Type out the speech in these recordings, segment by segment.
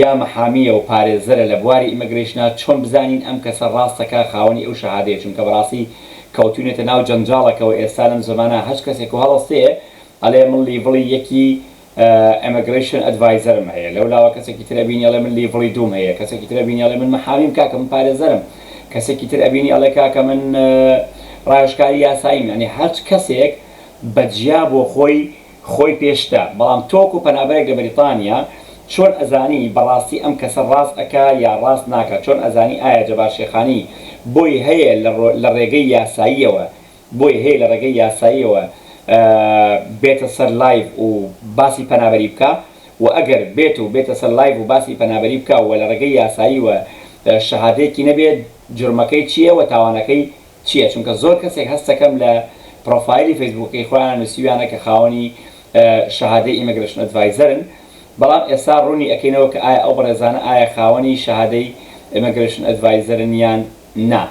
یا محامیە و پارێزەرە لە بواری ئیمگرەیشنا چۆن بزانین ئەم کەسە ڕاستەکا خاوەنی ئەو شەهادەیە چونکە بەڕاستی کەوتوینەتە ناو جەنجاڵەکەوە ئێستا لەم زەمانە هەچ کەسێک و هەڵەستێ ئەلێ من لیڤڵی یەکی ئیمگرەیشن ئەدڤایزەرم هەیە لەو لاوە کەسێکی تر ئەبینی ئەلێ من لیڤڵی دووم هەیە کەسێکی تر ئەبینی ئەلێ من محامیم کاکە من پارێزەرم کەسێکی تر ئەبینی ئەلێ کاکە من ڕاوێژکاری یاساییم یانی هەچ کەسێک بە جیا بۆ خۆی خۆی پێشتە بەڵام تۆ وەکو پەنابەرێک لە بەریتانیا چۆن ئەزانی بەڕاستی ئەم کەسە ڕاست ئەکا یا ڕاست ناکا چۆن ئەزانی ئایا جەبار شێخانی بۆی هەیە لە ڕێگەی یاساییەوە بۆی هەیە لە ڕێگەی یاساییەوە بێتە سەر لایڤ و باسی پەنابەری بکا وە ئەگەر بێت و بێتە سەر لایڤ و باسی پەنابەری بکا وە لە ڕێگەی یاساییوە شەهادەیەکی نەبێ جورمەکەی چیە وە تاوانەکەی چیە چونکە زۆر کەسێک هەستەکەم لە پڕۆفایلی فەیسبووکەکەی خۆیان نوسیویانە کە خاوەنی شەهادەی ئیمگرەشن ئەدڤایزەرن بەڵام ئێستا ڕوونی ئەکەینەوە کە ئایا ئەو بەڕێزانە ئایا خاوەنی شەهادەی ئیمگرەشن ئەدڤایزەرن یان نا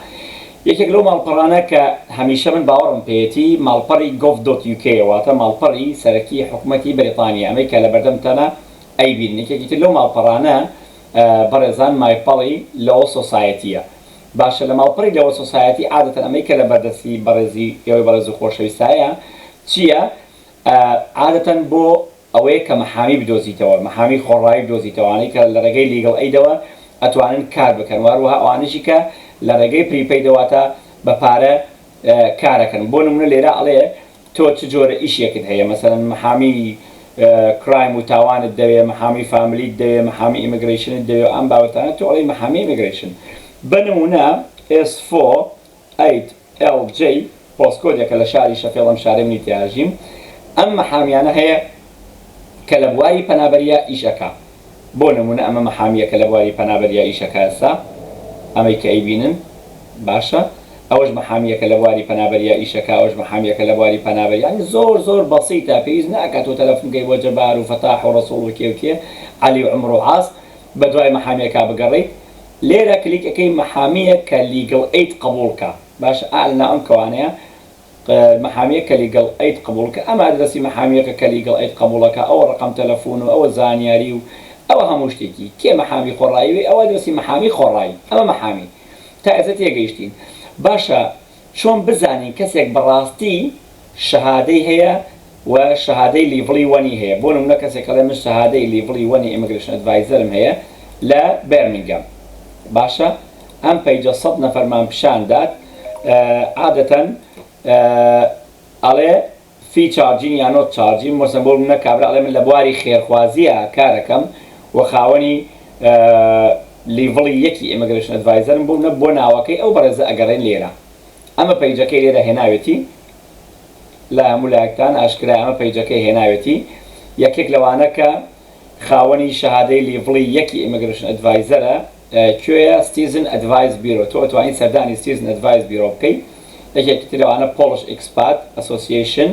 یەکێک لەو ماڵپەڕانە کە هەمیشە من باوەڕم پێیەتی ماڵپەڕی گۆڤ دۆت یوکێیە واتە ماڵپەڕی سەرەکی حکومەتی بەریتانیە ئەمەی کە لەبەردەمتانە ئەیبینن یەکێکی تر لەو ماڵپەڕانە بەڕێزان مایپەڵی لۆ سۆسایەتیە باشە لە ماڵپەڕی لەوە سۆسایەتی عادەتەن ئەمەی کە لە بەردەستی بەڕێزی ئێوەی بەڕێز و خۆشەویستایە چییە عادەتەن بۆ ئەوەیە کە مەحامی بدۆزیتەوە مەحامی خۆڕایی بدۆزیتەوە ئەوانەی کە لە ڕێگەی لیگڵ ئەیدەوە ئەتوانن کار بکەن واروەها ئەوانەشی کە لە ڕێگەی پری پەیدە واتە بە پارە کارەکەن بۆ نمونە لێرە ئەڵێ تۆ چ جۆرە ئیشێکت هەیە مەسەلەن محامی کرایم و تاوانت دەوێ محامی فاملیت دەوێ محامی ئیمگرەیشنت دەوێ و ئەم بابەتانە تۆ ئەڵێی محامی ئیمگرەیشن بە نمونە ئێس فۆ ئەیت ئێڵ جەی پۆسکۆدێکە لە شاری شەفێڵ ئەم شارەی منی تیایا ژیم ئەم محامیانە هەیە کە لە بواری پەنابەریا ئیش ئەکا بۆ نموونە ئەمە مەحامییەکە لە بواری پەنابەر یا ئیشەکەسا ئەمەی کە ئەیبینن باشە ئەوەش مەحامییەکە لە بواری پەنابەر یا ئیشەکە ئەوەش مەحامییەکە لە بواری پەنابەر یانی زۆر زۆر بەسیتە پێویست ناکا تۆ تەلەفون کەی بۆ جەبار و فەتاح و ڕەسوڵ و کێ و کێ عەلی و عومر و عاس بە دوای مەحامییەکا بگەڕێیت لێرە کلیک ئەکەی مەحامییەکە لیگڵ ئەید قەبوڵ کا باشە ئا لە ناو ئەم کەوانەیە محامیە کە لیگەڵ ئەید قبوڵ کە ئەم ئەدرەسی محامیەکە کە لیگەڵ ئەید قبوڵە کە ئەوە ڕەقەم تەلەفون و ئەوە زانیاری و ئەوە هەموو شتێکی کێ محامی خۆڕایی وێ ئەوە ئەدرەسی محامی خۆڕایی ئەمە محامی تا ئێستا تێگەیشتین باشە چۆن بزانین کەسێک بەڕاستی شەهادەی هەیە و شەهادەی لیڤڵی وەنی هەیە بۆ نمونە کەسێک ئەڵێ من شەهادەی لیڤڵی وەنی ئیمگرەشن ئەدڤایزەرم هەیە لە بێرمینگەم باشە ئەم پەیجە سەد نەفەرمان پیشان دات عادەتەن ئەڵێ فی چارجین یا نۆت چارجین مۆسم بۆ منە کابرا ئەڵێ من لە بواری خێرخوازیە کارەکەم و خاوەنی لیڤڵی یەکی ئیمگرەشن ئەدڤایزەرم بۆ منە بۆ ناوەکەی ئەو بەڕێزە ئەگەڕێن لێرە ئەمە پەیجەکەی لێرە هێناوێتی لە هەموو لایەکتان ئاشکرایە ئەمە پەیجەکەی هێناوێتی یەکێک لەوانە کە خاوەنی شەهادەی لیڤڵی یەکی ئیمگرشن ئەدڤایزەرە کوێیە ستیزن ئەدڤایز بیرۆ تۆ ئەتوانی سەردانی ستیزن ئەدڤایز بیرۆ بکەی یەکێکی تر لەوانە پۆڵش ئیکسپات ئەسۆسیەیشن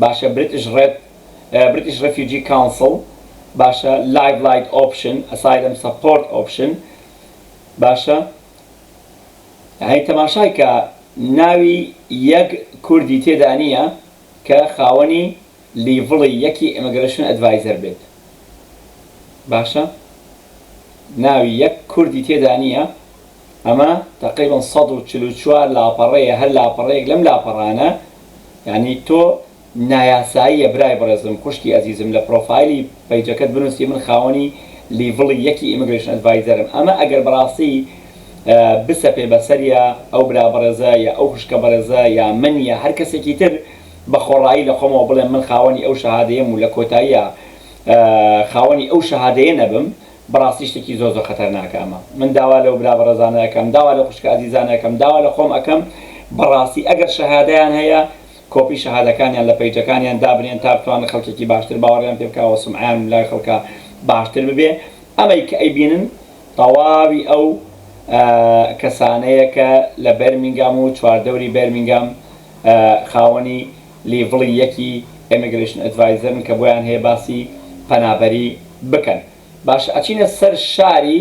باشە بریتش ڕێد بریتش ڕێفیوجی کاونسڵ باشە لایڤ لایت ئۆپشن ئەسایلم سەپۆرت ئۆپشن باشە هەی تەماشای کە ناوی یەک کوردی تێدا نیە کە خاوەنی لیڤڵی یەکی ئیمگرەشن ئەدڤایزەر بێت باشە ناوی یەک کوردی تێدا نیە ئەمە تەقریبەن سەد و چل و چوار لاپەڕەیە هەر لاپەڕەیەک لەم لاپەڕانە یانی تۆ نایاساییە برای بەڕێزم خوشکی ئەزیزم لە پڕۆفایلی پەیجەکەت بنوسی من خاوەنی لیڤڵی یەکی ئیمگرەیشن ئەدڤایزەرم ئەمە ئەگەر بەڕاستی بسەپێ بەسەریا ئەو برا بەڕێزە یا ئەو خوشکە بەڕێزە یا من یا هەر کەسێکی تر بە خۆڕایی لە خۆمەوە بڵێم من خاوەنی ئەو شەهادەیەم و لە کۆتاییا خاوەنی ئەو شەهادەیە نەبم بەڕاستی شتێکی زۆر زۆر خەتەرناکە ئەمە من داوا لەو برا بەڕێزانە ئەکەم داوا لە خوشکە ئەزیزانە ئەکەم داوا لە خۆم ئەکەم بەڕاستی ئەگەر شەهادەیان هەیە کۆپی شەهادەکانیان لە پەیجەکانیان دابنێن تا بتوانن خەڵکێکی باشتر باوەڕیان پێ بکا وە سومعەیان لای خەڵکا باشتر ببێ ئەمەی کە ئەیبینن تەواوی ئەو کەسانەیە کە لە بێرمینگام و چواردەوری بێرمینگام خاوەنی لیڤڵی یەکی ئێمیگرەیشن ئەدڤایزەرن کە بۆیان هەیە باسی پەنابەری بکەن باشە ئەچینە سەر شاری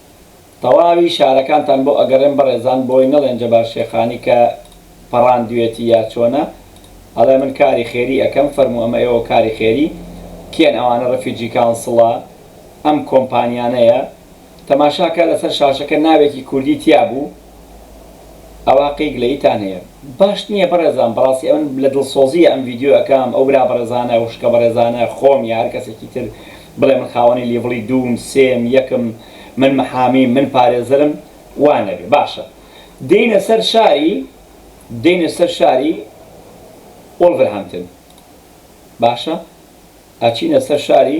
تەواوی شارەکانتان بۆ ئەگەڕێم بەڕێزان بۆی نەڵێن جەبار شێخانی کە پەڕاندوێتی یا چۆنە ئەڵێ من کاری خێری ئەکەم فەرموو ئەمە ئێوە کاری خێری کێن ئەوانە ڕفیجی کانسڵە ئەم کۆمپانیانەیە تەماشاکە لەسەر شاشەکە ناوێکی کوردی تیابوو ئەوا کەی گلەیتان هەیە. باش نیە بەڕێزان بەڕاستی ئەمن لە دڵسۆزیە ئەم ڤیدیۆ ئەکەم ئەو برا بەڕێزانە ئەو خوشکە بەڕێزانە خۆم یا هەر کەسێکی تر بڵێ من خاوەنی لیڤڵی دووم سێم یەکم من محامیم من پارێزەرم وا نەبێ باشە دێینە سەر شاری دێینە سەر شاری وڵڤرهامتن باشە ئەچینە سەر شاری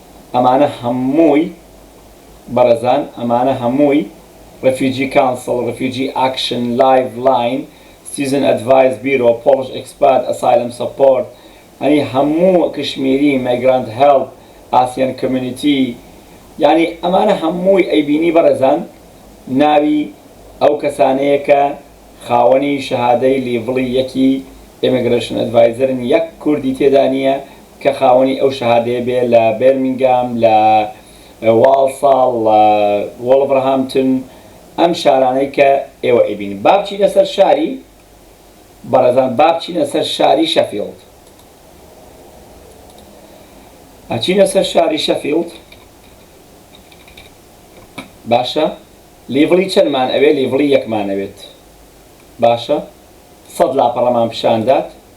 ئەمانە هەمووی بەڕێزان ئەمانە هەمووی ڕفیوجی کانسڵ، ڕفیوجی ئاکشن، لایڤ لاین، سیتیزن ئەدڤایس بیرۆ، پۆڵش ئێکسپات، ئەسایلم سەپۆرت، یانی هەموو کشمیری، مەیگرانت هێڵپ، ئاسیان کۆمیونیتی یانی ئەمانە هەمووی ئەیبینی بەڕێزان ناوی ئەو کەسانەیە کە خاوەنی شەهادەی لیڤڵی یەکی ئێمێگرەشن ئەدڤایزەرن یەک کوردی تێدا نیە کە خاوەنی ئەو شەهادەیە بێ لە بێرمینگام، لە واڵساڵ، لە وۆڵڤرهامپتن، ئەم شارانەی کە ئێوە ئەیبینن. با بچینە سەر شاری، بەڕێزان با بچینە سەر شاری شەفیڵد. ئەچینە سەر شاری شەفیڵد. باشە لیڤڵی چەندمان ئەوێ؟ لیڤڵی یەکمان ئەوێت. باشە سەد لاپەڕەمان پیشان دات.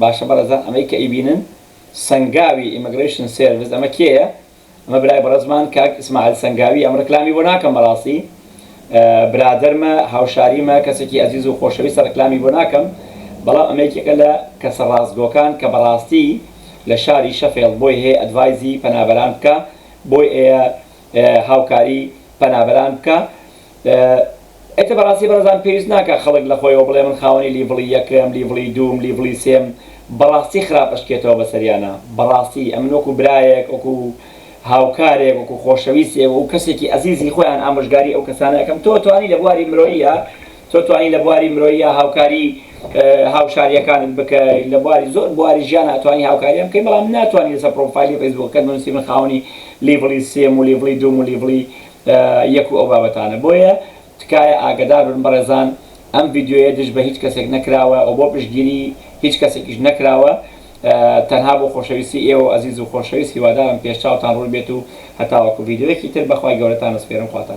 باشە بەڕێزان ئەمەی کە ئەیبینن سەنگاوی ئیمگرەیشن سێرڤس ئەمە کێیە ئەمە برای بەڕێزمان کاک ئیسماعیل سەنگاوی ئەم ڕکلامی بۆ ناکەم بەڕاستی برادەرمە هاوشاریمە کەسێکی ئەزیز و خۆشەویستە ڕکلامی بۆ ناکەم بەڵام ئەمە یەکێکە لە کەسە ڕاستگۆکان کە بەڕاستی لە شاری شەفێڵد بۆی هەیە ئەدڤایزی پەنابەران بکا بۆی هەیە هاوکاری پەنابەران بکا ئێتە بەڕاستی بەڕێزان پێویست ناکا خەڵک لەخۆیەوە بڵێ من خاوەنی لیڤڵی یەکم لیڤڵی دووم لیڤڵی سێم بەڕاستی خراپ ئەشکێتەوە بەسەریانا بەڕاستی ئەمن وەکو برایەک وەکو هاوکارێک وەکو خۆشەویستێک وەکو کەسێکی ئەزیزی خۆیان ئامۆژگاری ئەو کەسانە ئەکەم تۆ توانی لە بواری مرۆییا تۆ توانی لە بواری مرۆییا هاوکاری هاوشاریەکانت بکە لە بواری زۆر بواری ژیان ئەتوانی هاوکاریان بکەی بەڵام ناتوانانی لەسەر پرۆفایلی فەیسبوکەکەت بنووسی من خاوەنی لیڤڵی سێم و لیڤڵی دووم و لیڤڵی یەک و ئەو بابەتانە بۆیە تکایە ئاگەدار بن بەڕێزان ئەم ڤیدیۆیە دژ بە هیچ کەسێک نەکراوە و بۆ پشتگیری هیچ کەسێکیش نەکراوە تەنها بۆ خۆشەویستی ئێوە و ئەزیز و خۆشەویست هیوادارم پێش چاوتان ڕوون بێت و هەتاوەکو ڤیدیۆیەکی تر بەخوای گەورەتان ئەسپێرم خواتان